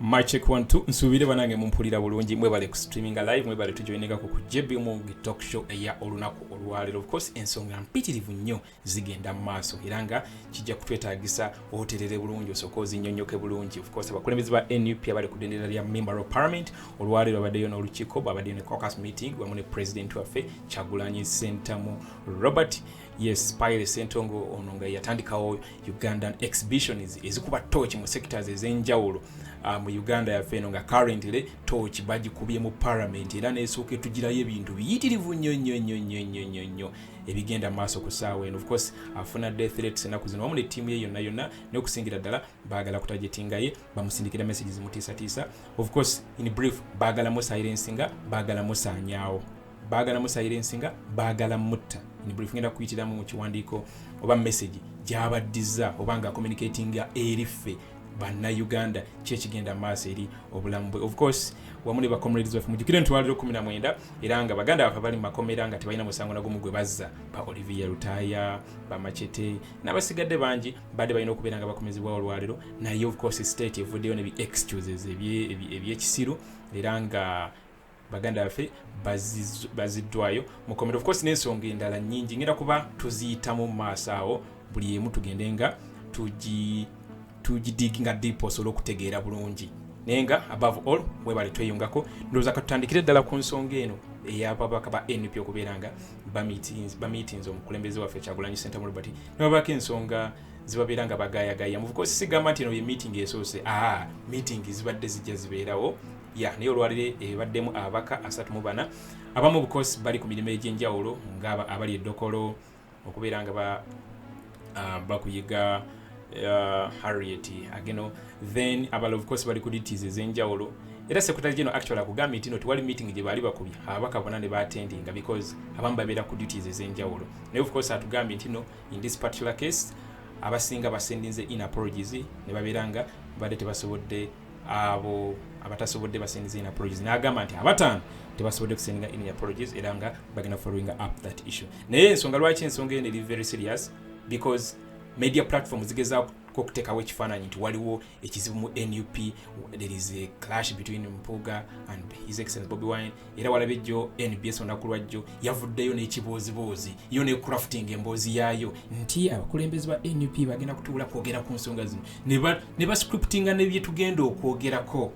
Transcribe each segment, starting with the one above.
machek one two nsuubire banange mumpulira bulungi mwebale ku streaminga live mwebale tujoinekako ku jbmog talk show eya olunaku olwaleero ofcourse ensonga mpitirivu nnyo zigenda mu maaso era nga kijja kutwetagisa oterere bulungi osooka ozinyonyoke bulungi ofcourse abakulembeze ba nup abali ku dendera lya member of parliament olwaleero abaddeyo n'olukiiko bwabaddeyo ne cocus meeting wamu ne president waffe kyagulanyi sentamu robert uh, yes pile sentongo ono nga yatandikawo ugandan exhibitions ezikuba tooki mu sectors ez'enjawulo uh, mu uganda yaffe eno nga currently tooki bagikubye mu parliament era nesooka etugirayo ebintu biyitirivu nnyo nnyo nnyo nnyo nnyo nnyo nnyo ebigenda maaso ku saawa eno ofcourse afuna death rates enaku zino wamu ne ttiimu ye yonna yonna n'okusingira ddala baagala kutajetingaye bamusindikira message zimutiisatiisa ofcourse in brief baagala musilensinga baagala musaanyaawo baagala musayirensi nga baagala mutta buli fugenda kuyitiramu mu kiwandiiko oba message gyabaddiza oba nga communicatinga eri ffe bannayuganda kyekigenda maaso eri obulamu bwe of course wamu ne bacomrades baffe mujukire nti waliro kumi namwenda era nga baganda baffe bali mumakomera nga tebalina musango nagumu gwe bazza ba olivia lutaya bamacete n'abasigadde bangi badde balina okubeera nga bakomezebwa olwaliro naye of course state evuddeyo ne bi excuses ebyekisiru era nga baganda baffe baziddwayo mukomera of course n'ensonga endala nyingi ngenda kuba tuziyitamu mu maaso awo buli emu tugende nga tugidiginga deep osobole okutegeera bulungi naye nga above all mwebale tweyungako ndowooza katutandikire ddala ku nsonga eno eyababaka ba nup okubeera nga bamiitins omukulembeze waffe kyagulanyi sentamu robert nebabako ensonga zibabeera nga bagayagaya muvuka osisigamba nti eno ye meeting esoose aa meeting zibadde zijja zibeerawo ya naye olwaliro ebaddemu ababaka asatu mu bana abamu bukosi bali ku mirimu egy'enjawulo nga abali edokolo okubeera nga ah, bakuyiga ah, harriet ageno then abala obukosi bali ku dities ez'enjawulo era secretary general actually akugambye nti no tewali meeting gye baali bakubye ababaka bona ne baatendinga because abamu babeera ku duties ez'enjawulo naye of course atugambye nti no in this particular case abasinga basendinze in apologies ne babeera nga badde tebasobodde abo abatasobodde basindize in apologies n'agamba nti abataano tebasobodde kusindinga in apologies era nga bagenda following up that issue naye ensonga lwaki ensonga eno eri very serious because media platform zigezaako okuteekawo ekifaananyi nti waliwo ekizibu mu nup there is a clash between mpuuga and his excellence bobi wine era walaba ejjo nbs olunaku lwajjo yavuddeyo n'ekibooziboozi yo ne crafting emboozi yaayo nti abakulembeze ba nup bagenda kutuula kwogera ku nsonga zino ne bascriptinga nebyetugenda okwogerako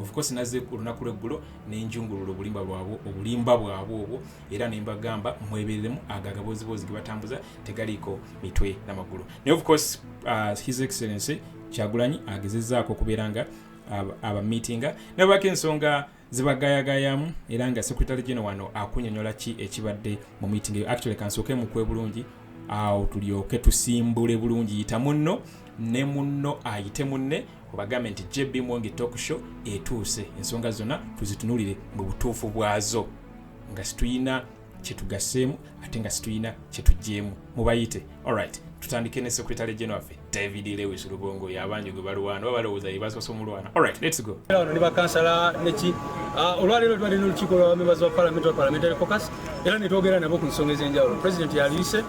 ofcourse naze ku lunaku lweggulo nenjungulula obulimba bwabwe obulimba bwabwe obwo era nembagamba mwebereremu ago agabooziboozi gebatambuza tegaliiko mitwe namagulu naye ofcourse uh, his excellency kyagulanyi agezezaako okubeera nga abamitinga nabako ensonga zibagayagayamu era nga secretary general wano akunyonyola ki ekibadde mu meeting eyo actually kansooke mukwe bulungi awo tulyoke tusimbule bulungi yita munno ne munno ayite munne obagambe nti jb mwonge talk show etuuse ensonga zonna tuzitunulire mu butuufu bwazo nga situyina kyetugaseemu ate nga situyina kyetuggyemu mubayite alright tutandike ne secretary general waffe david lewis lubongo yabangi gwe balwana oba balowooza ye basoose omulwana alright lets go ono ne bakansala neki ah, olwaleero twali n'olukiiko lwa members wa parliament wa parliamentary focus era ne twogera nabo ku nsonga ez'enjawulo president yaliyise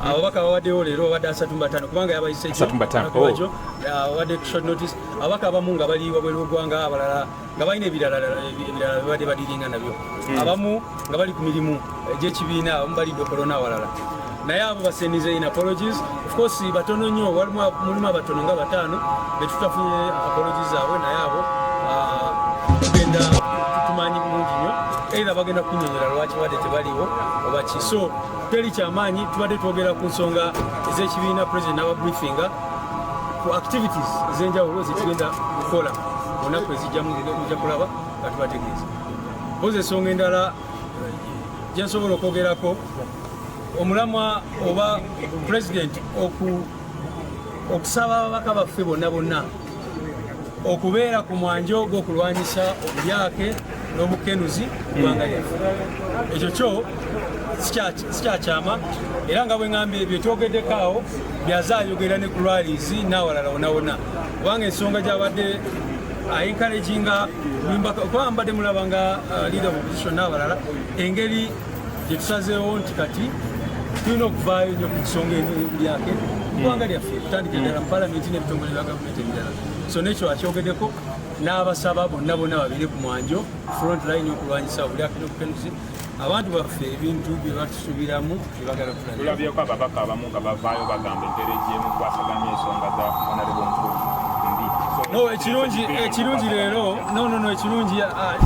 ababaka babadewo leero babadde asatu mubataano kubanga yabayise ekyowajo babadde oh. short notice ababaka abamu nga bali wabweru wegwanga abalala nga balina ebirala ebirala bibadde badiringa nabyo hmm. abamu nga bali ku mirimu egyekibiina eh, abamu balidde okolona awalala naye abo basendize in apologies of course batono nnyo mulimu abatono nga bataano betutafunye apologies zaabwe naye abo ah, tugenda tumanyi bulungi nnyo era bagenda kunyonyola lwaki wadde tebaliwo obaki so teri kyamaanyi tubadde twogera ku nsonga ez'ekibiina president n'aba briefinga ku activities ez'enjawulo zetugenda kukola mu nnaku ezijjamu muja kulaba nga tubategeeza boza ensonga endala gyensobola okwogerako omulamwa oba president oku okusaba ababaka baffe bonna bonna okubeera ku mwanja ogwo okulwanyisa obulyake n'obukenuzi kubanga lyaffe ekyo kyo sikyakyama era nga bweŋamba ebyo tyogeddeko awo byaza ayogera ne ku lwalizi n'awalala wonawona kubanga ensonga gyabadde ayinkaleginga uh, kubanga mbadde mulaba nga uh, leader of opposition n'awalala engeri Kyetusazeewo nti kati tulina okuvaayo nyo ku nsonga lyake kubanga lyaffe tutandika eddala mu palamenti n'ebitongole bya gavumenti ebirala so nekyo akyogedeko n'abasaba bonna bonna babeere ku mwanjo front line okulwanyisa obulyakino bupenuzi abantu baffe ebintu byebatusubiramu byebagala tulabyeko ababaka abamu nga bavaayo bagamba empeera egyemukwasaganya ensonga za honorable nkulu no ekirungi ekirungi leero no no no ekirungi ah,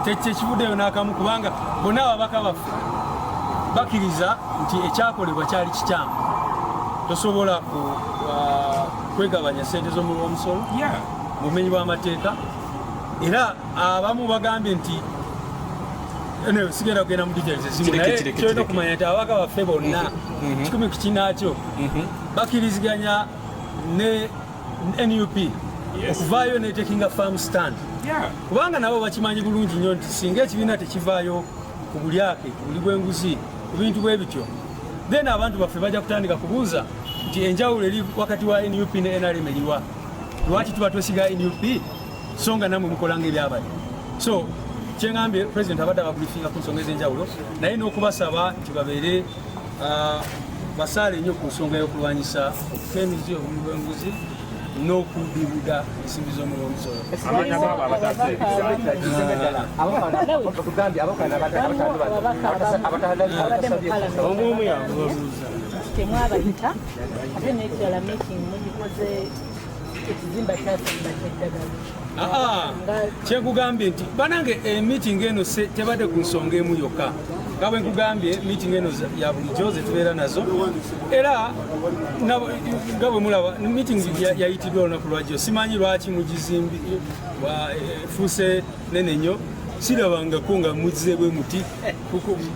tekivuddeyo n'akamu kubanga Bonna ababaka baffe bakiriza nti ekyakolebwa kyali kikyamu. Tosobola ku uh, kwegabanya sente z'omuwi w'omusolo mu bumenyi bw'amateeka era abamu bagambye nti anyway sigenda kugenda mu details ezimu naye kyolina okumanya nti ababaka baffe bonna mhm. Mhm. kikumi ku kinaakyo mhm. bakiriziganya ne nup okuvaayo netekinga farm stand kubanga nabo bakimanyi bulungi nnyo nti singa ekibiina tekivaayo ku bulyake ku buli bwenguzi ku bintu bwe bityo then abantu baffe bajja kutandika kubuuza nti enjawulo eri wakati wa nup ne nrm eriwa lwaki tuba twesiga nup so nga namwe mukolanga ebyabali so kyeŋambye president abadde ababrifinga ku nsonga ez'enjawulo naye n'okubasaba nti babeere Ah, basaale nnyo ku nsonga y'okulwanyisa okuta emizi obuli bw'enguzi n'okubibuda ensimbi z'omulonzolo temwabayita ate nekirala meeting mugikoze Ah, ah. kyekugambye nti banange emiting eh, eno tebadde ku nsonga emu yokka nga bwe nkugambye miting eno ya bulijjo zetubeera nazo era nga bwe mulaba miting yayitiddwa olunaku lwajjo simanyi lwaki mugizimbi efuuse eh, nene nnyo sirabangako nga muzze bwe muti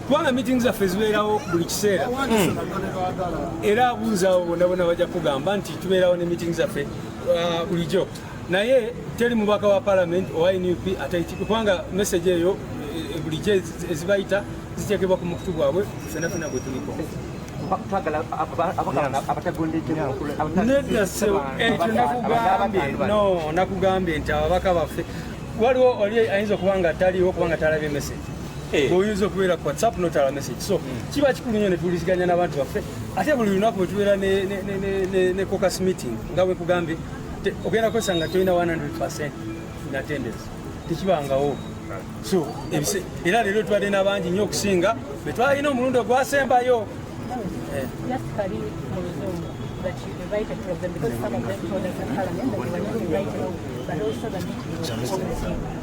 kubanga meeting zaffe zibeerawo buli kiseera hmm. era abuuzaawo bonna bona bajja kugamba nti tubeerawo ne meeting zaffe uh, bulijjo naye teri mubaka wa parliament owa nup kubanga message eyo eh, bulijjo ezibayita ziteekebwa ku mukutu gwabwe fena fena gwe tuliko nedda sewo ekyo nakugambye no nakugambye nti ababaka baffe waliwo oli ayinza okuba nga taliwo kubanga talabye message Eh. oyinza okubeera ku whatsapp notala message so hmm. kiba kikulu nyo netuwuliziganya n'abantu baffe ate buli lunaku wetubeera ne cocus meeting nga wekugambye ogenda kozesa nga tolina 100 natendence tekibangawo so era leero tubadde n'abangi nnyo okusinga betwalina omulundi ogwasembayo eh. that you invited to them because some of them told us in Parliament that they were not invited, but also the meeting.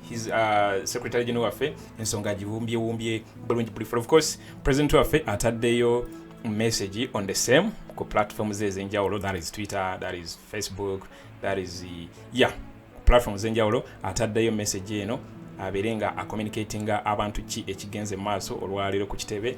his uh, secretary general waffe ensonga agiwumbyewumbye bulungi bulifu of course president waffe ataddeyo message on the same ku platform ze ezenjawulo that is twitter that is facebook that is yeah platform zenjawulo ataddeyo message eno abeere nga acommunicatinga abantu ki ekigenze mu maaso olwaleero ku kitebe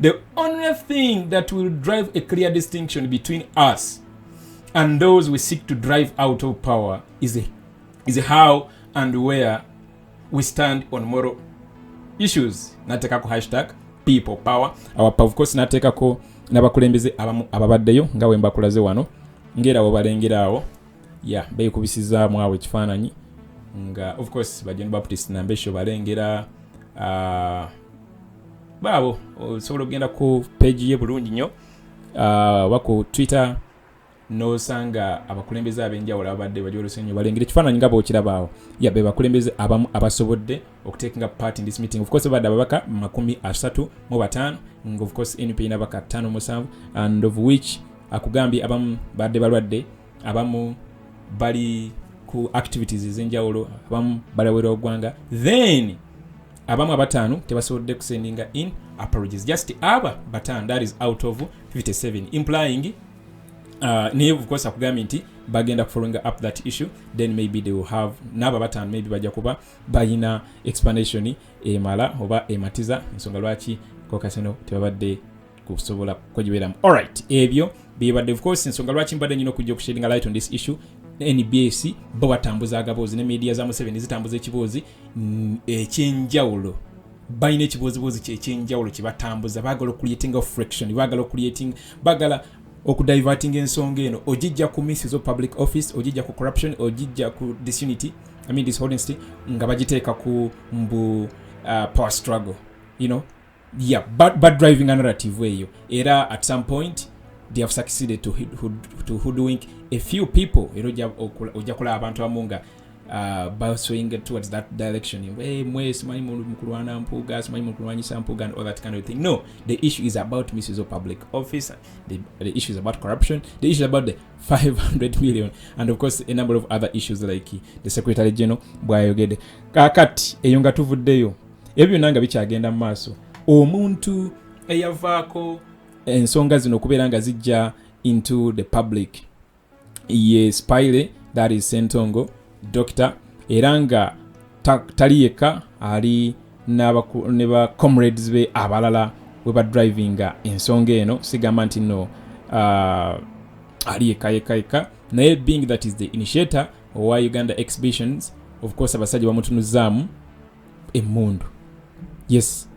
The only thing that will drive a clear distinction between us and those we seek to drive out of power is, a, is a how and where we stand on moral issues. Natekako hashtag people power. Our of course natekako nabakulembeze ababaddeyo nga we mbakulaze wano ngera webalengera awo ya beekubisizaamu awo ekifaananyi nga of course bajon baptist nambesho balengera uh, baabo osobola okugenda ku peegi ye bulungi nnyo ah, oba ku twitter nosanga abakulembeze abenjawulo ababadde bajolese nyo balengera ekifaananyi nga bokirabaawo yabe bakulembeze abamu abasobodde okutekinga part in this meeting of course badde ababaka makumi asatu mu bataano of course np nabaka tano musanvu and of which akugambye abamu badde balwadde abamu bali ku activities ezenjawulo abamu balawera ogwanga then abamu abataano tebasobodde kusendinga in apologies just aba bataano that is out of 57 implying uh, naye bukosa kugambye nti bagenda kufollowinga up that issue then maybe they will have naabo abataano maybe bajja kuba balina explanation emala oba ematiza ensonga lwaki kokasino tebabadde kusobola kwegibeeramu alright ebyo bibadde of course ensonga lwaki mbadde nyina okujja okushadinga light on this issue nbs bo batambuza agaboozi ne media za museveni zitambuza ekiboozi mm, ekyenjawulo balina ekibooziboozi kyekyenjawulo kyebatambuza bagala okuliatinga fraction bagala okuliating bagala okudiverting ensonga eno ogijja ku misses of public office ogijja ku corruption ogijja ku disunity I mean, dishonesty nga bagiteeka ku mbu uh, power struggle you know yeah, but, but driving a narrative way era at some point they have succeeded to, hood, to hoodwink a few people era ojja kulaba abantu abamu nga uh, baswing towards that direction hey, mwe simanyi mukulwana mpuuga simanyi mukulwanyisa mpuuga and all that kind of thing no the issue is about misuse of public office the, the issue is about corruption the issue is about the 500 million and of course a number of other issues like the secretary general bwayogede kakati eyo nga tuvuddeyo ebyo byonna nga bikyagenda mu maaso omuntu eyavaako ensonga zino okubeera nga zijja into the public ye spile that is sentongo doctor era nga tali yekka ali ne ba comrades be abalala we ba drivinga ensonga eno sigamba nti no uh, ali yekka yekka yekka naye being that is the initiator owa uganda exhibitions of course abasajja bamutunuzaamu emmundu yes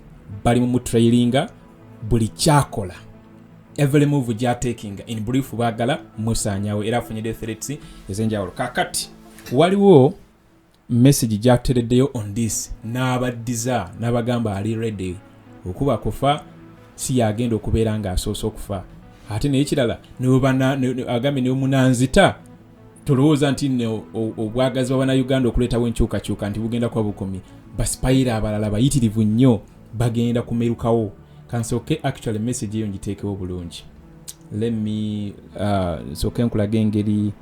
bali mu mutrailinga buli kyakola every move gyatekinga in brief baagala musaanyawo era afunyidde threats ez'enjawulo kakati waliwo message gyatereddeyo on this n'abaddiza n'abagamba ali ready okuba kufa si yagenda okubeera ng'asoose okufa ate naye kirala agambye nemunanzita tolowooza nti no obwagazi bwa bannayuganda okuleetawo enkyukakyuka nti bugenda kuba bukomye basipayira abalala bayitirivu nnyo bagenda kumerukawo kansooke actually message eyo ngiteekewo bulungi lemme uh, nsooke nkulaga engeri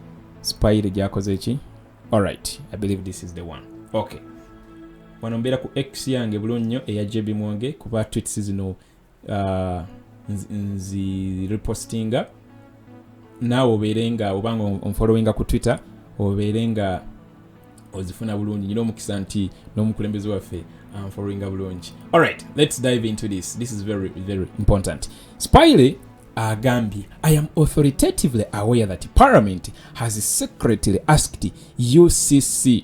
sipayire gyakoze ki alright i believe this is the one okay wano mbeera ku x yange bulungi nnyo eya jb mwonge kuba twits zino uh, nzirepostinga naawe obeere nga obanga onfollowinga ku twitter obeere nga ozifuna bulungi nyina omukisa nti n'omukulembeze waffe anfollowinga bulungi alright let's dive into this this is very very important spiley agambye i am authoritatively aware that parliament has secretly asked ucc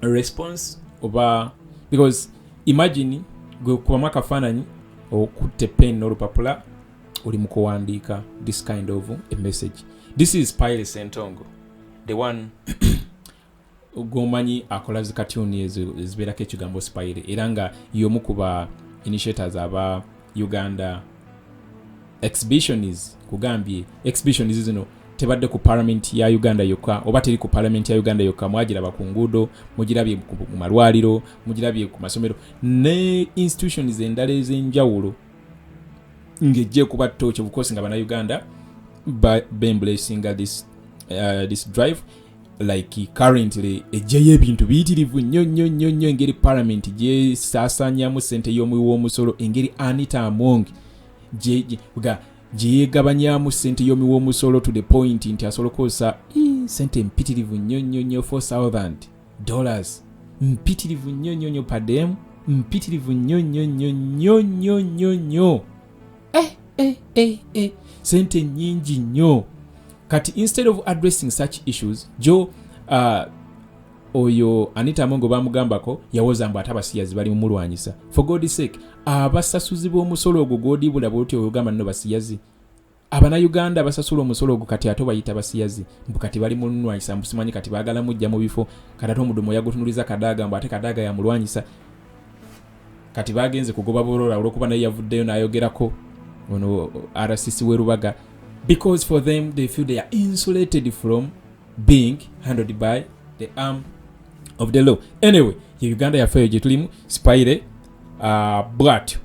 response oba because imagine gwe kubamu akafaananyi okutte pen n'olupapula oli mu kuwandiika this kind of a message this is pile sentongo the one gwomanyi akola zikatuni ezibeerako ekigambo spire era nga yomu kuba initiators aba uganda exhibitions kugambye exhibitions zino tebadde ku parliament ya uganda yokka oba teri ku parliament ya uganda yokka mwagiraba ku nguudo mugirabye mu malwaliro mugirabye ku masomero ne institutions endala ez'enjawulo ng'ejja ekuba tooki obukosi nga banauganda bembulesinga this, uh, this drive like currently ejjayo ebintu biyitirivu nnyo nnyo nnyo nnyo engeri palamenti gyesaasanyamu sente y'omuwi w'omusolo engeri anita among ga gyeyegabanyamu sente yomi womusolo to the point nti asobola okukozesa sente mpitirivu nnyo nnyo nnyo 4000 dollars mpitirivu nnyo nnyo nnyo pademu mpitirivu nnyo nnyo nnyo nnyo nnyo nnyo nnyo eh, eh, eh, eh. sente nyingi nnyo kati instead of addressing such issues jo uh, oyo anita mongo bamugambako yawoza mbu ate abasiyazi bali mumulwanyisa for god sake abasasuzi b'omusolo ogwo gwodibula bwoti oyogamba nno basiyazi abanauganda abasasula omusolo ogwo kati ate bayita basiyazi mbu kati bali mulwanyisa mbu simanyi kati bagala mujja mu bifo kati ate omudumu yagutunuliza kadaaga mbu ate kadaaga yamulwanyisa kati bagenze kugoba burora olwokuba naye yavuddeyo nayogerako ono rcc we rubaga because for them they feel they are insulated from being handled by the arm of the law anyway ye uganda yaffe eyo gyetulimu spire uh, bwatyo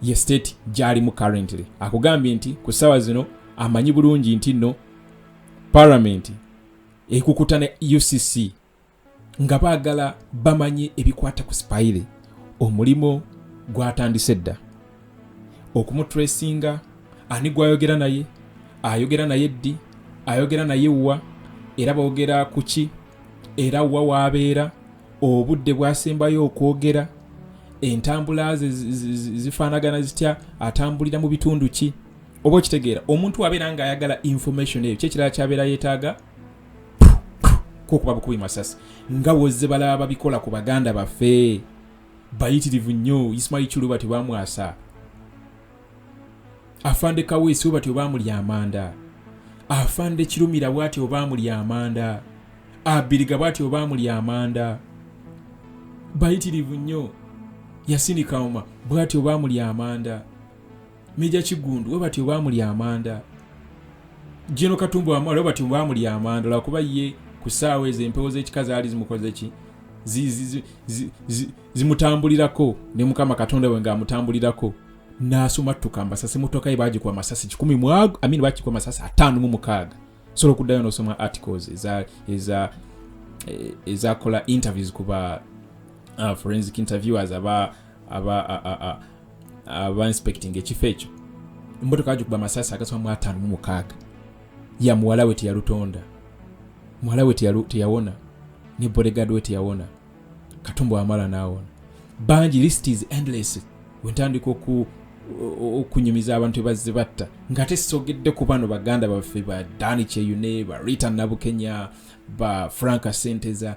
ye state gyalimu currently akugambye nti ku ssaawa zino amanyi bulungi nti nno paramenti ekukuta ne ucc nga baagala bamanye ebikwata ku sipayire omulimu gwatandise dda okumutresinga ani gwayogera naye ayogera naye ddi ayogera naye wa era boogera ku ki era wa waabeera obudde bwasembayo okwogera entambula ze zifaanagana zitya atambulira mu bitundu ki oba okitegeera omuntu abeera ng'ayagala information eyo kyekirala kyabeera yeetaaga kokuba bukubi masasi nga wozze balaba babikola ku baganda baffe bayitirivu nnyo ismail chulu batyo bamwasa afande kaweesi we batyo bamuli amanda afande kirumira bwati obaamuli amanda abiriga bwati obaamuli amanda bayitirivu nnyo yasini kauma bwati obaamuli amanda meja kigundu we batyo bamuli amanda jeno katumbu wamwe we batyo bamuli amanda lwakuba ye ku ssaawa ezo empewo z'ekika zaali zimukoze ki zimutambulirako ne mukama katonda we ng'amutambulirako n'asumattuka amasasi mutoka ye baagikuba amasasi kikumi mwago amini baagikuba amasasi ataano mu mukaaga sobola okuddayo n'osoma articles eza eza eh, ezakola interviews kuba uh, forensic interviewers aba aba inspecting ekifo ekyo emmotoka agikuba amasasi agasoma mu ataano mu mukaaga ya muwala we teyalutonda muwala we teyawona ne bodegard we teyawona katumba wamala naawona bangi list is endless wentandika oku okunyumiza abantu ebazze batta ngaate sogedde ku bano baganda baffe ba dani kyeyune ba rita nabukenya ba franka senteza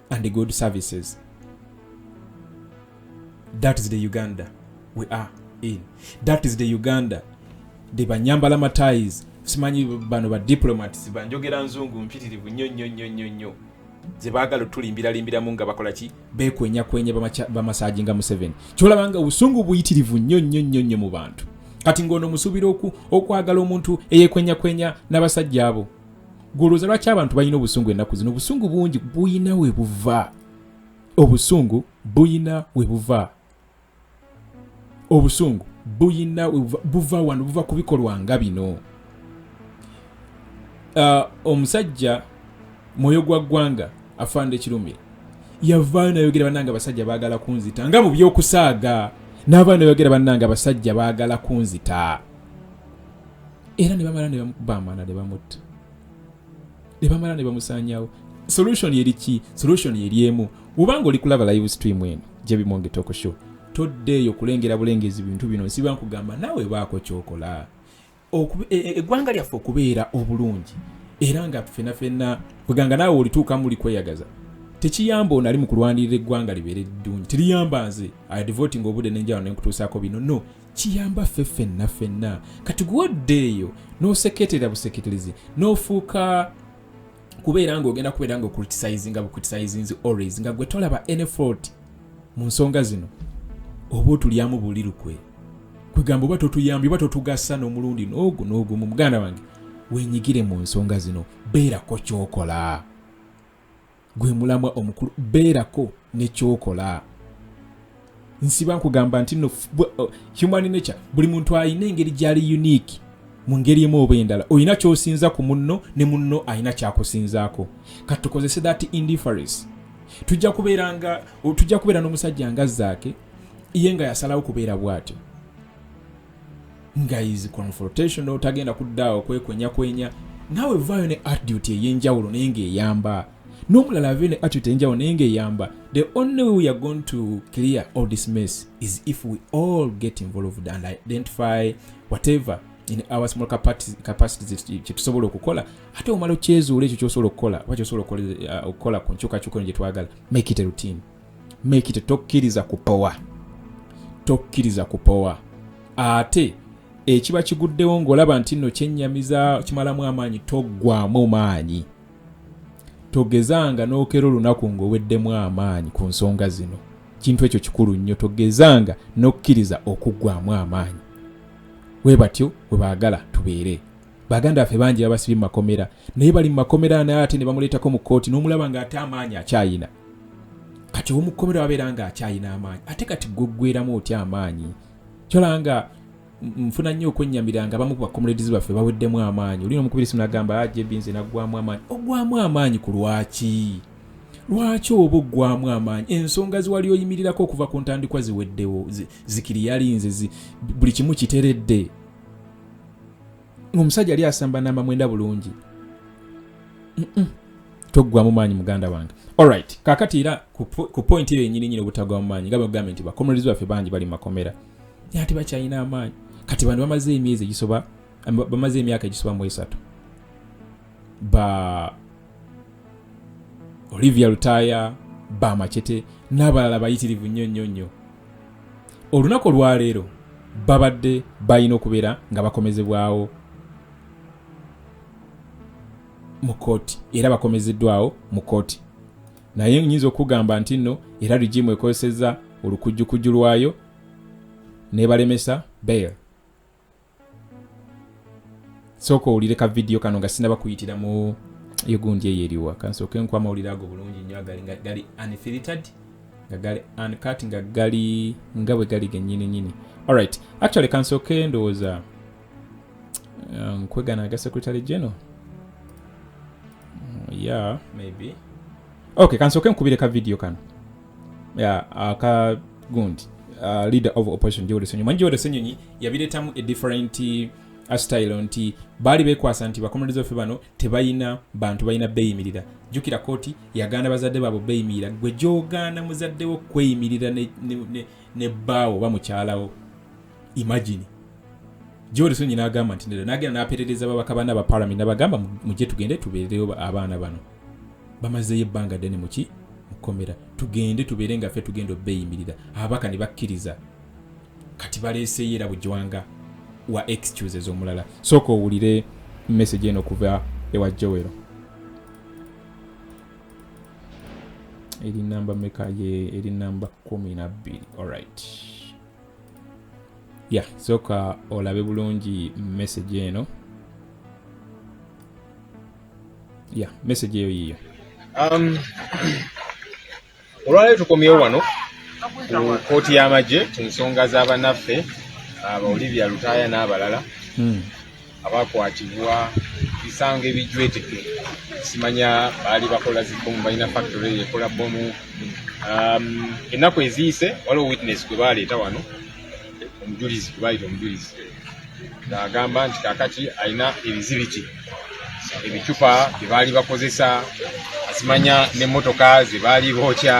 and the good services that is the uganda we are in that is the uganda the banyambala matais simanyi bano ba diplomats banjogera nzungu mpitirivu nnyo nnyo nnyo nnyo nnyo zebaagala otulimbiralimbiramu nga bakola ki bekwenyakwenya bamasaji nga museveni kyolaba nga obusungu buyitirivu nnyo nnyo nnyo nnyo mu bantu kati ng'ono musuubira okwagala omuntu eyekwenyakwenya n'abasajja abo gwolowooza lwaki abantu balina obusungu ennaku zino obusungu bungi buyina we buva obusungu buyina we buva obusungu buyina we buva wano buva ku bikolwa nga bino uh, omusajja mwoyo gwa ggwanga afande kirumira yavaayo nayogera banange abasajja baagala kunzita nga mu byokusaaga n'abaana yogera bannange abasajja baagala kunzita era ne bamala ne bamukuba amana ne bamutta ne bamala ne bamusanyawo solution eri ki solution eri emu wubanga oli kulaba live stream eno jebimonge toko show toddeeyo kulengera bulengezi bintu bino nsiba nkugamba naawe baako kyokola e, e, eggwanga lyaffe okubeera obulungi era nga fena fena kweganga naawe olituukamu oli kweyagaza tekiyamba ono ali mu kulwanirira eggwanga libeere ddungi teriyamba nze adivotinga obude nenjawano nenkutuusaako bino no kiyamba ffe ffenna ffenna kati gwe oddeeyo n'oseketerera buseketerezi n'ofuuka kubeera ng'ogenda kubeera nga okulitisayizinga bukulitisayizinzi always nga gwe tolaba enefort mu nsonga zino oba otulyamu buli lukwe kwegamba oba totuyambye oba totugasa n'omulundi n'ogu n'ogumu muganda wange wenyigire mu nsonga zino beerako kyokola gwe mulamwa omukulu beerako nekyokola nsiba nkugamba nti no uh, human nature buli muntu alina engeri gyali unique mu ngeri emu oba endala olina kyosinza ku munno ne munno alina kyakusinzaako kati tukozese that indifference tujja kubeera nga tujja kubeera n'omusajja nga zaake ye nga yasalawo kubeera bw'atyo guys confrontation otagenda kuddaawo kwekwenya kwenya naawe vaayo ne attitude ey'enjawulo naye ng'eyamba n'omulala avee ne attitude ey'enjawulo naye ng'eyamba the only way we are going to clear all this mess is if we all get involved and identify whatever in our small capacities kyetusobola okukola ate omala okyezuula ekyo kyosobola okukola oba kyosobola okukola uh, ku nkyukakyuka eno gyetwagala make it a routine make it tokkiriza kupowa tokkiriza kupowa ate ekiba kiguddewo ng'olaba nti nno kyennyamiza kimalamu amaanyi toggwamu maanyi togezanga n'okera olunaku ng'oweddemu amaanyi ku nsonga zino kintu ekyo kikulu nnyo togezanga n'okkiriza okuggwamu amaanyi we batyo we baagala tubeere baganda baffe bangi babasibye mu makomera naye bali mu makomera naye ate ne bamuleetako mu kkooti n'omulaba ng'ate amaanyi akyayina kati ow'omukkomera wabeera ng'akyayina amaanyi ate kati gweggweramu otya amaanyi kyolaba nga nfuna nnyo okwennyamira nga bamu ku bakomuledzi baffe baweddemu amaanyi olina omukubiri simu nagamba ajb ah, nze naggwamu amaanyi ogwamu amaanyi ku lwaki lwaki oba oggwamu amaanyi ensonga ziwali oyimirirako okuva ku ntandikwa ziweddewo zikiri yalinze buli kimu kiteredde omusajja yali asamba namba mwenda bulungi toggwamu maanyi muganda wange alright kakati era ku point eyo yenyini nyini obutagwamu maanyi nga bagambye nti bakomerez baffe bangi bali mumakomera naye ate bakyalina amaanyi kati bantu bamaze emyezi egisoba bamaze emyaka egisoba mu esatu ba olivia lutaaya ba macete n'abalala bayitirivu nnyo nnyo nnyo olunaku olwaleero babadde balina okubeera nga bakomezebwawo mu kooti era bakomezeddwawo mu kooti naye nyinza okugamba nti nno era rigimu ekozesezza olukujjukujju lwayo nebalemesa bail sooka owulire ka vidiyo kano nga sinaba kuyitira mu egundi eyo eriwa kansooka enku amawulire ago bulungi nnyo agali nga gali unfiltered nga gali uncut nga gali nga bwe gali genyini nyini alright actually kansooka endowooza uh, nkwegana aga secretary general mm, yeah maybe okay kansooka enkubire ka vidiyo kano ya aka gundi uh, leader of opposition Joel Ssenyonyi manyi Joel Ssenyonyi yabireetamu a different uh, style nti baali bekwasa nti bakomereza ffe bano tebalina bantu balina beeyimirira jjukira kooti yagaana bazadde baabo beeyimirira gwe gyogaana muzaddewo kweyimirira ne, ne, ne, ne bbaawo oba mukyalawo imagine gyoli sonyi n'agamba nti nedda n'agenda n'aperereza babaka bana ba palamenti nabagamba mujje tugende tubeereyo abaana bano bamazeeyo ebbanga ddene muki mukomera tugende tubeere nga ffe tugenda obeeyimirira ababaka ne bakkiriza kati baleeseyo era bujwanga wa excuses omulala sooka owulire message eno okuva ewa jowero eri namba meka ye eri namba kumi nabbiri alright ya sooka olabe bulungi message eno ya message eyo yiyo um, olwaleero tukomyewo wano ku kooti y'amagye ku nsonga z'abanaffe abawulibya lutaaya n'abalala hmm. abakwatibwa bisango ebijweteke simanya baali bakola zibomu balina factory ekola bomu um, ennaku eziyise waliwo witness gwe baleeta wano omujulizi gwe baayita omujulizi ng'agamba nti kakati alina ebizibiti ebicupa bye baali bakozesa simanya n'emmotoka ze baali bookya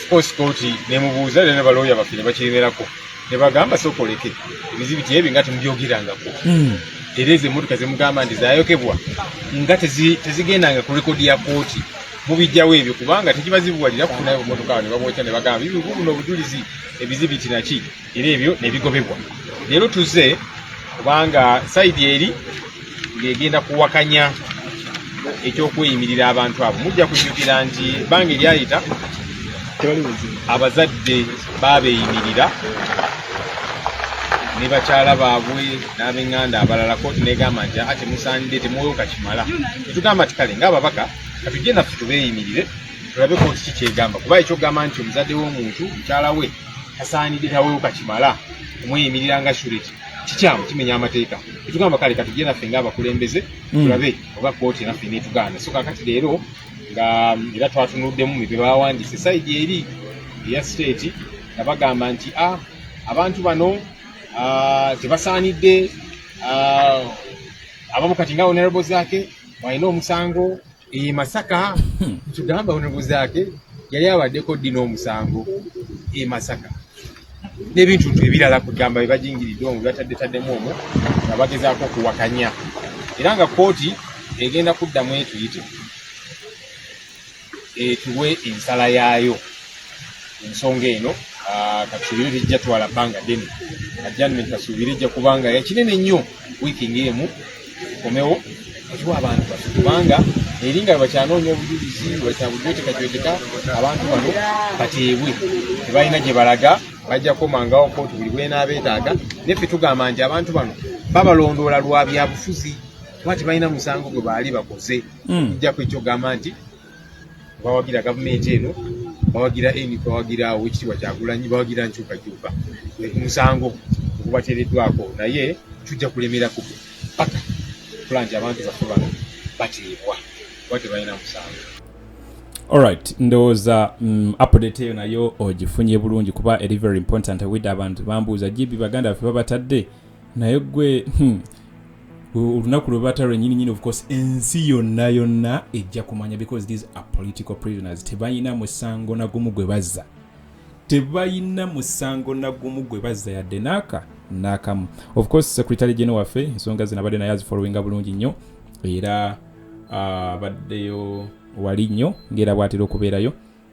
kosikooti nemubuuza era ne balooya baffe ne bakiremerako nebagamba sooka oleke ebizibu kyebyo nga temubyogerangako hmm. era ezo emotoka zemugamba nti zayokebwa nga tezigendanga ku rekodi ya kooti mubijjawo ebyo kubanga tekibazibuwalira kufunayo emotoka awo nebabokya nebagamba bibuno obujulizi ebizibu kinaki era ebyo nebigobebwa leero tuze kubanga saidi eri ng'egenda kuwakanya ekyokweyimirira abantu abo mujja kujjukira nti bange lyayita abazadde babeeyimirira ne bakyala baabwe n'abenganda abalala kooti negamba nti aa temusaanidde temwoyoka kimala tetugamba ti kale ngaababaka katujje naffe tubeeyimirire tulabe kooti kikyegamba kuba ekyokugamba nti omuzadde w'omuntu mukyala we tasaanidde tawoyoka kimala omweyimirira nga sureti kikyamu kimenya amateeka Etugamba kale katujje naffe ng'abakulembeze mm. tulabe oba kkooti naffe netugaana so kakati leero nga mm, era twatunuddemu bye baawandiise sayidi eri eya siteeti nga bagamba nti a ah, abantu bano ah, tebasaanidde ah, abamu kati nga honorable zaake walina omusango iyi e masaka hmm. tugamba onobuzaake yali abaddeko ddi n'omusango e masaka n'ebintu ntu ebirala kugamba bebajingiridde omu bataddetaddemu omu nga bagezaako okuwakanya era nga kooti egenda kuddamu etuyite etuwe ensala yaayo ensonga eno ah, katusuubire tejja twala bbanga ddene ajjanment kasuubire ejja kubanga yakinene nnyo wiiki ng'emu komewo okiwa abantu baffe kubanga eri nga bakyanoonya obujulizi bakyabujwetekajweteka abantu bano bateebwe tebalina gye balaga bajja komangawo kooti buli bwenaabeetaaga naye ffe tugamba nti abantu bano babalondoola lwa byabufuzi kuba tebalina musango gwe baali bakoze ojja hmm. kwekyogamba nti bawagira gavumenti eno bawagira eni bawagira owekitiibwa kyagulanyi bawagira nkyukakyuka musango ogubateereddwako naye tujja kulemera ku paka kula nti abantu baffe bano bateebwa kuba tebalina musango Alright, ndowooza mm, update eyo nayo ogifunye bulungi kuba eri very important wide abantu bambuuza gibi baganda baffe babatadde naye gwe hmm, olunaku lwe bata lwenyini nyini ofcourse ensi yonna yonna ejja kumanya because these are political prisoners tebalina musango nagumu gwe bazza tebalina musango nagumu gwe bazza yadde naaka naakamu ofcourse secretary gene waffe ensonga zino abadde naye azifollowinga bulungi nnyo era ah, abaddeyo wali nnyo ngaera bwatera okubeerayo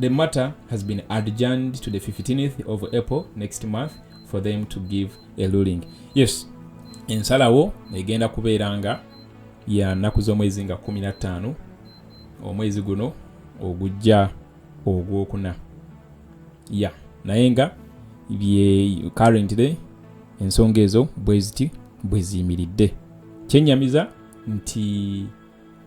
The matter has been adjourned to the 15th of April next month for them to give a ruling. Yes, ensalawo egenda kubeera nga ya nnaku z'omwezi nga 15 omwezi guno ogujja ogwokuna ya naye nga bye currently ensonga ezo bweziti bweziyimiridde kyenyamiza nti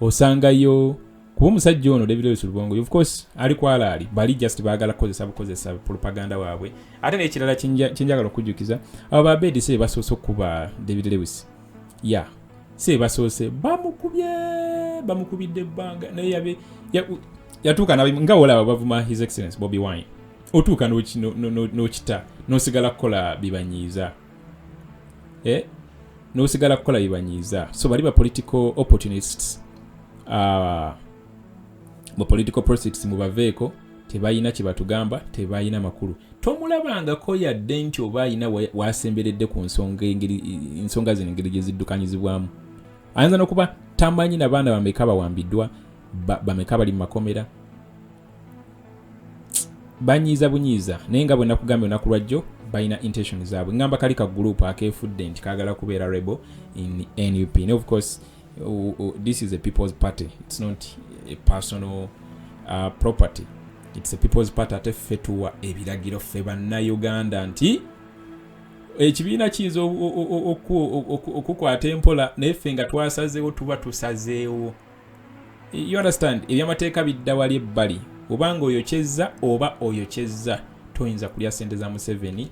osangayo kuba omusajja ono david lewis lubongo of course ali kwalaali bali just baagala kukozesa bukozesa propaganda waabwe ate nekirala kyenjagala okujjukiza abo babedi si bebasoose okukuba david lewis ya yeah. si bebasoose bamukubye bamukubidde ebbanga naye yabe yatuuka ya nga olaba bavuma his excellence bobi wine otuuka n'okita no, no, no, nosigala kukola bibanyiiza no, eh, n'osigala kukola bibanyiiza so bali ba political opportunists uh, mu political proceeds mubaveeko tebalina kyebatugamba tebalina makulu tomulabangako yadde nti oba alina wasemberedde ku nsonga zino engeri gyeziddukanyizibwamu ayinza nokuba tamanyi nabaana bameka bawambiddwa bameka bali mu makomera banyiiza bunyiiza naye nga bwenakugambye olunaku lwajjo balina intention zaabwe ngamba kali ka group akeefudde nti kagala kubeera rebel in nup and of course uh, uh, this is a people's party it's not a personal uh, property it's a people's party ate ffe tuwa ebiragiro ffe bannayuganda nti ekibiina kiyinza okukwata empola naye ffe nga twasazeewo tuba tusazeewo you understand ebyamateeka bidda wali ebbali obanga oyokyezza oba oyokyezza toyinza kulya sente za museveni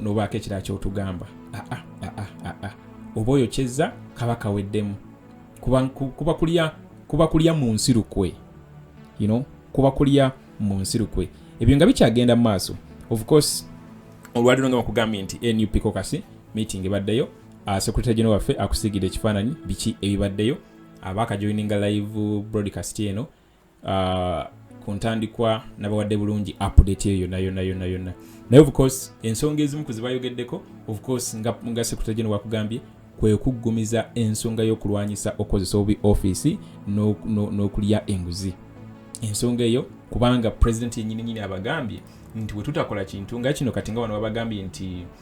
nobaako ekirala kyotugamba ah, ah, ah, oba oyokyezza kaba kaweddemu kuba kulya mu nsi lukwe you know? kuba kulya mu nsi lukwe ebyo nga bikyagenda mu maaso of course olwaliro nga bakugambye nti nup kokasi meeting ebaddeyo uh, secretary general waffe akusiigidde ekifaananyi biki ebibaddeyo abaakajoininga live broadcast eno uh, ku ntandikwa nabawadde bulungi update eyo yonna yonna yonna yonna naye ofcourse ensonga ezimu ku zibayogeddeko ofcourse nga, nga secretary general wakugambye kwe kuggumiza ensonga y'okulwanyisa okukozesa obubi ofiisi n'okulya enguzi ensonga eyo kubanga pulezidenti yenyininyini abagambye nti wetutakola kintu nga kino kati nga wano babagambye nti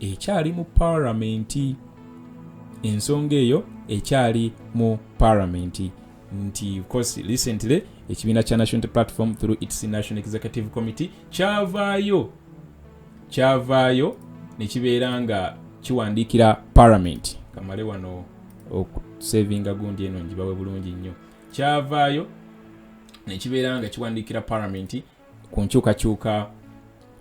ekyali mu palamenti ensonga eyo ekyali mu palamenti nti course recently ekibiina kya national platform through its national executive committee kyavaayo kyavaayo nekibeera nga kiwandiikira palamenti kamale wano okusevinga gundi eno njibawe bulungi nnyo kyavaayo nekibeera nga kiwandiikira palamenti ku nkyukakyuka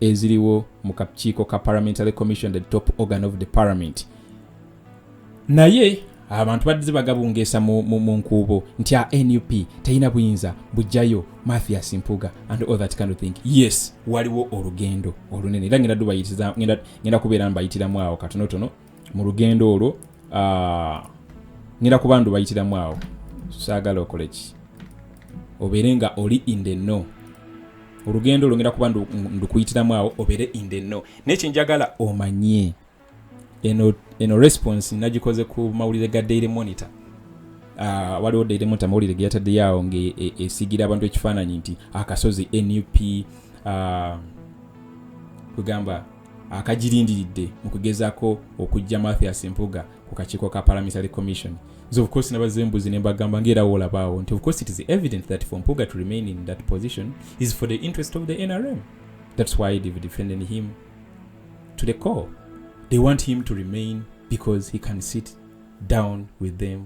eziriwo mu kakiiko ka parliamentary commission the top organ of the parliament naye abantu baddize bagabungeesa mu, mu, mu nkuubo nti a nup terina buyinza bujjayo mathias mpuga and all that kind of thing yes waliwo olugendo olunene era ngenda dubayitiriza ngenda kubeera mbayitiramu awo katonotono mu lugendo olwo ah, ngenda kuba ndu bayitiramu awo saagala okole ki obeere nga oli in the know olugendo olwo ngenda kuba ndukuyitiramu awo obeere in the know naye kyenjagala omanye eno, eno response nagikoze ku mawulire ga daily monitor uh, waliwo daily monitor mawulire geyataddeyo awo ngaesigira e, abantu ekifaananyi nti akasozi nup uh, ah, kwegamba akagirindiridde mu kugezako okujja mathias mpuga ku kakiiko ka parliamentary commission nze of course nabaza embuzi ne mbagamba ngaera woolabaawo nti of course it is evident that for mpuga to remain in that position is for the interest of the nrm that's why they've defended him to the core they want him to remain because he can sit down with them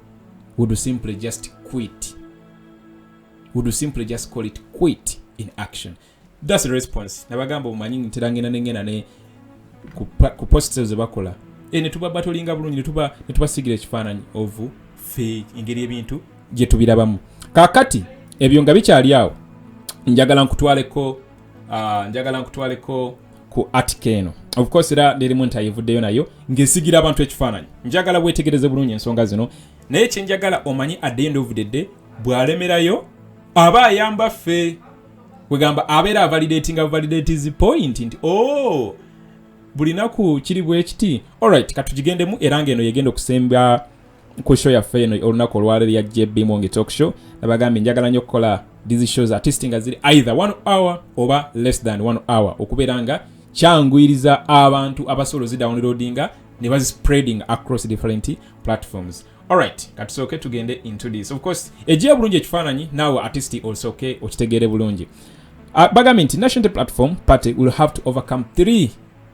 would simply just quit would simply just call it quit in action thats response nabagamba omanyi ntera ngenda nengenda ne ku post ezo zebakola e, netuba batolinga bulungi netuba netubasigira ekifaananyi ovu fe engeri ebintu gyetubirabamu kakati ebyo nga bikyali awo njagala nkutwaleko uh, njagala nkutwaleko ku atika eno of course era nerimu nti ayivuddeyo nayo ng'esigira abantu ekifaananyi njagala weetegereze bulungi ensonga zino naye kyenjagala omanyi at the end of the day bw'alemerayo aba ayamba ffe kwegamba abeera avalidatinga validatis point nti o oh, buli naku kiri bwekiti allright katugigendemu era ng'eno yegenda okusemba ku show yaffe eno olunaku olwaleero ya jb mongi talk show nabagambye njagala nyo okukola these shows artist nga ziri either one hour oba less than one hour okubeera nga kyanguyiriza abantu abasobola ozidownloadinga ne bazispreading across different platforms alright katusooke tugende into this of course egiye bulungi ekifaananyi naawe artist osooke okitegeere bulungi uh, bagambye nti national platform party will have to overcome three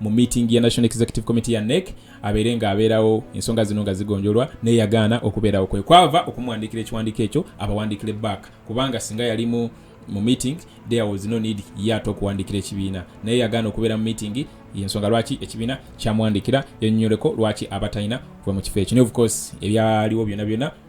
mu meeting ya national executive committee ya nec abeere nga abeerawo ensonga zino nga zigonjolwa naye yagaana okubeerawo kwe kwava okumuwandiikira ekiwandiiko ekyo abawandiikire back kubanga singa yalimu mu meeting there was no need yaata okuwandiikira ekibiina naye yagaana okubeera mu meeting yensonga lwaki ekibiina kyamuwandiikira yanyonyoleko lwaki abatalina kuva mu kifo ekyo naye of course ebyaliwo byona byona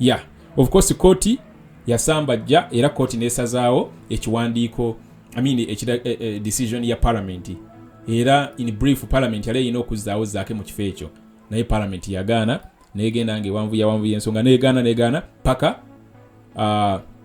ya of course kooti yasambajja era kooti nesazaawo ekiwandiiko I mean, ekida, eh, eh, decision ya palamenti era in brief palamenti yali erina okuzzaawo zaake mu kifo ekyo naye palamenti yagaana negenda nga ewanvu yawanvu yensonga negaana negaana paka uh,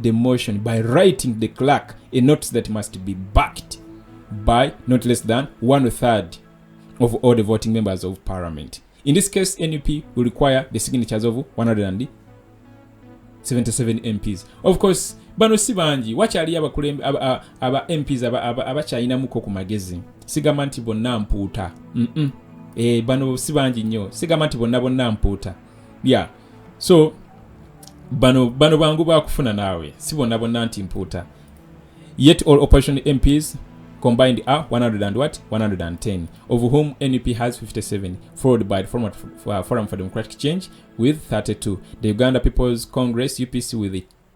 the motion by writing the clerk a notice that must be backed by not less than one third of all the voting members of parliament. In this case, NUP will require the signatures of 177 MPs. Of course, bano si bangi wakyaliyo abakulembe aba mps abakyalinamuko ku magezi sigamba nti bonna mpuuta eh, bano si bangi nnyo sigamba nti bonna bonna mpuuta ya yeah. so bano bano bangu bakufuna naawe si bonna bonna nti mpuuta yet all operation mps combined are 100 what 110 of whom nup has 57 followed by the forum, uh, forum for democratic change with 32 the uganda people's congress upc with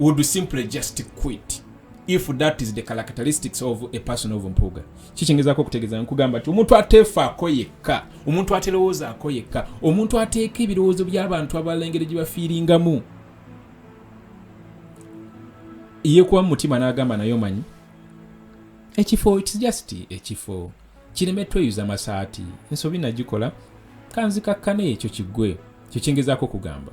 would simply just quit if that is the characteristics of a person of mpuuga kikyingezaako okutegeeza nkugamba nti omuntu ateefaako yekka omuntu aterowoozaako yekka omuntu ateeka ebirowoozo by'abantu abalala engeri gye bafiiringamu yekuba mu mutima n'agamba naye omanyi ekifo its just ekifo kireme tweyuza masaati ensobi nagikola kanzikakkane ekyo kiggwe kyekyingezaako okugamba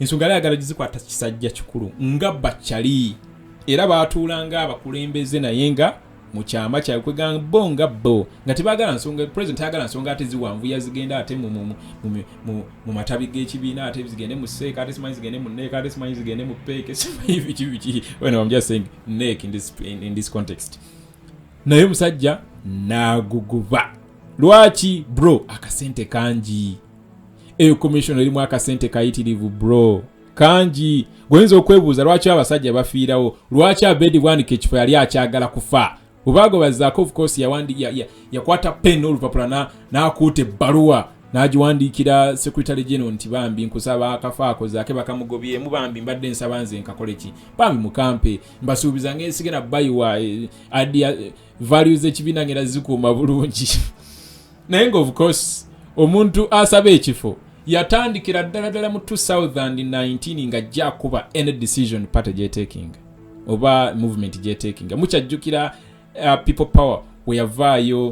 ensonga yali ayagala gizikwata kisajja kikulu nga bacali era baatuula nga abakulembeze naye nga mu kyama kyabwe kwegamba bo nga bo nga tebagala nsonga president ayagala nsonga ate ziwanvuya zigenda ate mu matabi g'ekibiina ate zigende mu seeka ate simanyi zigende mu neeka ate simanyi zigende mu peeke simanyi biki biki when I'm just saying neek in this, in, in this context naye omusajja n'aguguba lwaki bro akasente kangi eyo commission erimu akasente kayitirivu bro kangi goyinza okwebuuza lwaki abasajja bafiirawo lwaki abedi bwanika ekifo yali akyagala kufa obaago bazaako ofcourse yakwata pen olupapula n'akuuta ebbaluwa n'agiwandiikira secretary general nti bambi nkusaba akafa ako zaake bakamugobyemu bambi mbadde nsaba nze nkakole ki bambi mukampe mbasuubiza ngaensigena bayiwa eh, adia eh, values ekibiina ngera zikuuma bulungi naye nga of course omuntu asaba ekifo yatandikira ddala ddala mu 2019 nga ajja akuba any decision party gyetakinga oba movement gyetakinga mukyajjukira uh, people power weyavaayo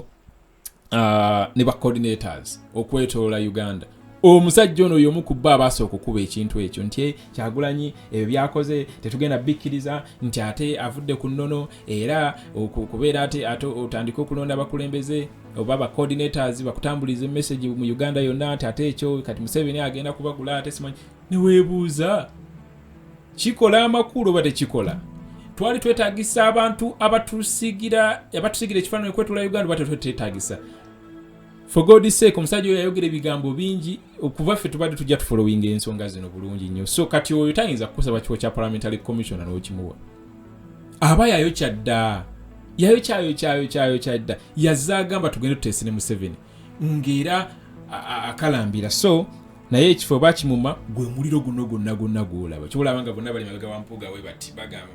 uh, ne bacoordinators okwetoola uganda omusajja ono yomu ku bba abaasa okukuba ekintu ekyo nti eh, kyagulanyi ebyo byakoze tetugenda bikkiriza nti ate avudde ku nnono era okubeera ate ate otandike okulonda abakulembeze oba ba coordinators bakutambulize message mu Uganda yonna nti ate ekyo kati Museveni agenda kubagula ate simanyi neweebuuza kikola amakulu oba tekikola twali twetagisa abantu abatusigira abatusigira ekifaananyi kwetula Uganda oba tetwetagisa for god sake omusajja oyo yayogera ebigambo bingi okuva ffe tubadde tujja tufolowinga ensonga zino bulungi nnyo so kati oyo tayinza kukusaba kiwo kya parliamentary commissioner n'okimuwa aba yayokya dda yayokyayokyayokyaayokya dda yazze agamba tugende tuteese ne museveni ng'era akalambira so naye ekifo oba kimuma gwe muliro guno gwonna gwonna gwolaba kyolaba nga bonna bali mabega wampuga we bati bagamba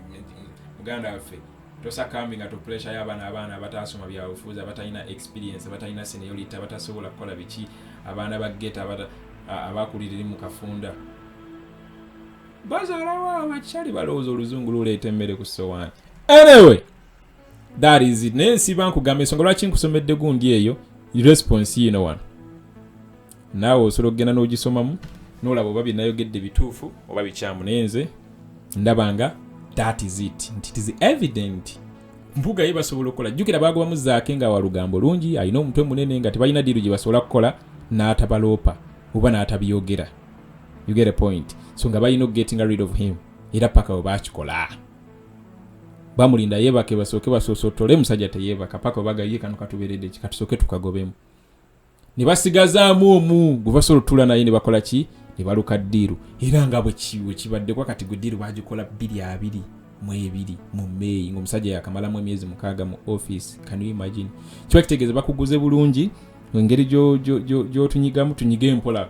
muganda waffe tosakambi nga topuresha yo abaana abaana abataasoma byabufuuzi abatalina experience abatalina seniority abatasobola kukola biki abaana ba geta abakuliriri mu kafunda bazalawo abacali balowooza oluzungu luleeta emmere ku sowaani anyway that is it naye nsiba nkugamba ensonga lwaki nkusomedde gundi eyo response yino wano naawe osobola okugenda n'ogisomamu nolaba oba byenayogedde bituufu oba bikyamu naye nze ndaba nga that is it nti it is evident mpuga ye basobola okukola jjukira baagobamu zaake nga walugambo lungi alina omutwe munene nga tebalina diiru gye basobola kukola n'atabaloopa oba n'atabyogera you get a point so nga balina okugetinga rid of him era paka webakikola bamulinda yebake basooke basosotole musajja teyebaka paka webagaye kano katuberedde ki katusooke tukagobemu ne basigazaamu omu gwe basobola otula naye ne bakola ki ne baluka ddiiru era nga bwekibaddekwa kati gwe ddiiru bagikola bbiri abiri mu ebiri mu meeyi ngaomusajja yakamalamu emyezi mukaaga mu office can you imagine kiba kitegeeza bakuguze bulungi engeri gyotunyigamu tunyige empola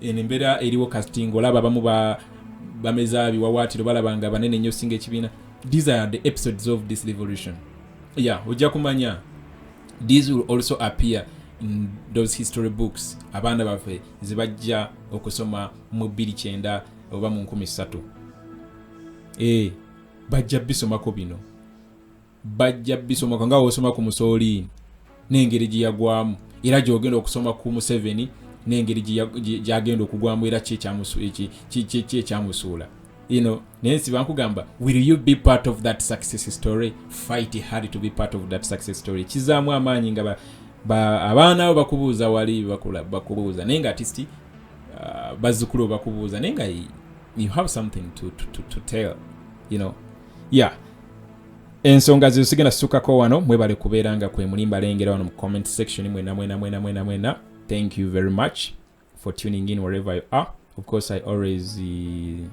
eno embeera eriwo kasti ngaolaba abamu bameza biwawaatiro balaba nga banene nnyo singa ekibiina these are the episodes of this revolution ya ojja kumanya these will also appear in those history books abaana baffe zebajja okusoma mu 29 oba mu 13 e eh, bajja bisomako bino bajja bisomaka nga wosoma ku musoliini n'engeri gye yagwamu era gyogenda okusoma ku museveni n'engeri gyagenda okugwamu era kyekyamusuula you know naye nsi bankugamba will you be part of that success story fight hard to be part of that success story kizaamu amaanyi nga abaana bo bakubuuza wali bakubuuza naye nga atist uh, bazzukulu bakubuuza naye nga you have something to, to, to, to tell you know yeah ensonga zezo sigenda situkako wano mwebale kubeera nga kwemuli mbalengera wano mu comment section mwena mwena mwena mwena mwena thank you very much for tuning in wherever you are of course i always uh,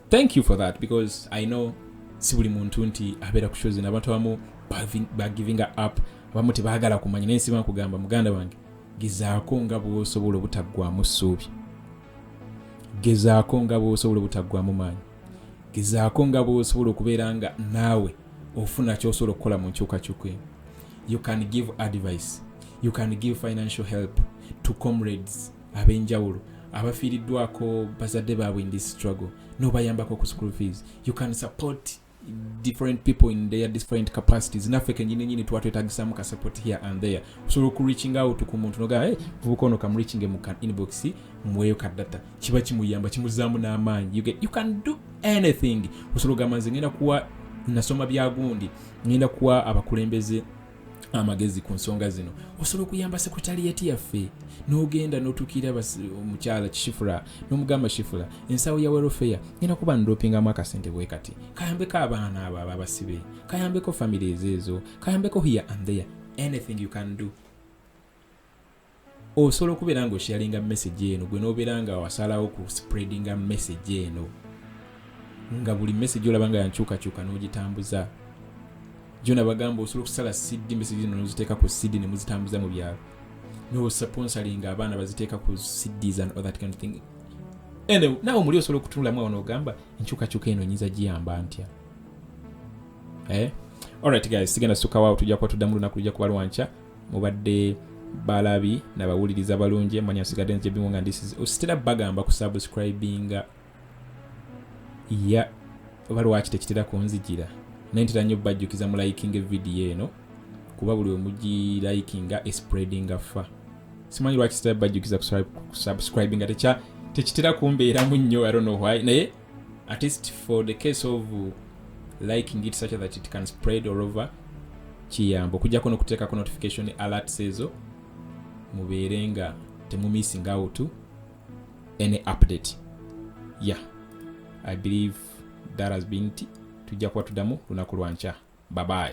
thank you for that because i know si buli muntu nti abeera ku shozin abantu abamu bagivinga up abamu tebagala kumanya naye nsiba nkugamba muganda wange gezaako nga bwosobola obutaggwamu ssuubi gezaako nga bwosobola obutaggwamu maanyi gezaako nga bwosobola okubeera nga naawe ofuna kyosobola okukola mu nkyukakyuka eno you can give advice you can give financial help to comrades abenjawulo abafiiriddwako bazadde baabwe in this struggle nobayambako ku school fees you can support different people in their different capacities naffe kenyini nyini twatwetagisamu ka support here and there osobola okureaching out ku muntu nogaa hey, vubuka ono kamureachinge mu kan inbox mweyo ka data kiba kimuyamba kimuzaamu n'amaanyi you, you can do anything osobola ogamba nze ngenda kuwa nasoma byagundi ngenda kuwa abakulembeze amagezi ku nsonga zino osobola okuyamba sekretariyati yaffe n'ogenda n'otuukira omukyala kishifula n'omugamba shifula ensawo ya welfare ngenda kuba ndopingamu akasente bwe kati kayambeko abaana abo aba abasibe kayambeko famire ezo ezo kayambeko here and there anything you can do osobola okubeera nga osharinga message eno gwe nobeera nga wasalawo ku spreadinga message eno nga buli message olaba nga yankyukakyuka n'ogitambuza jona bagamba osobola okusala cd message eno noziteeka ku cd ne muzitambuza mu byalo nosponsoringa abaana baziteeka ku cds and all that kind of thing anyway, nawe muli osobola okutunulamu awo nogamba enkyukakyuka eno nyinza giyamba ntya eh? alright guys sigenda sukawawo tujja kuba tuddamu lunaku lujja kuba lwankya mubadde balabi nabawuliriza balungi manya nsigadde nzebingo nga ndisize ositera bagamba ku subscribinga ya oba lwaki tekitera kunzijira naye ntera nnyo bajjukiza mu likinga evidiyo eno kuba buli wemugilayikinga espreadinga fa simanyi lwaki sitera bajjukiza kusubscribinga tekitera kumbeeramu nnyo i don't know why naye at least for the case of liking it such that it can spread all over kiyamba okujjako nokuteekako notification alerts ezo mubeere nga temumissing out any update yeah i believe that has been t tujja kuba tuddamu lunaku lwankya babaye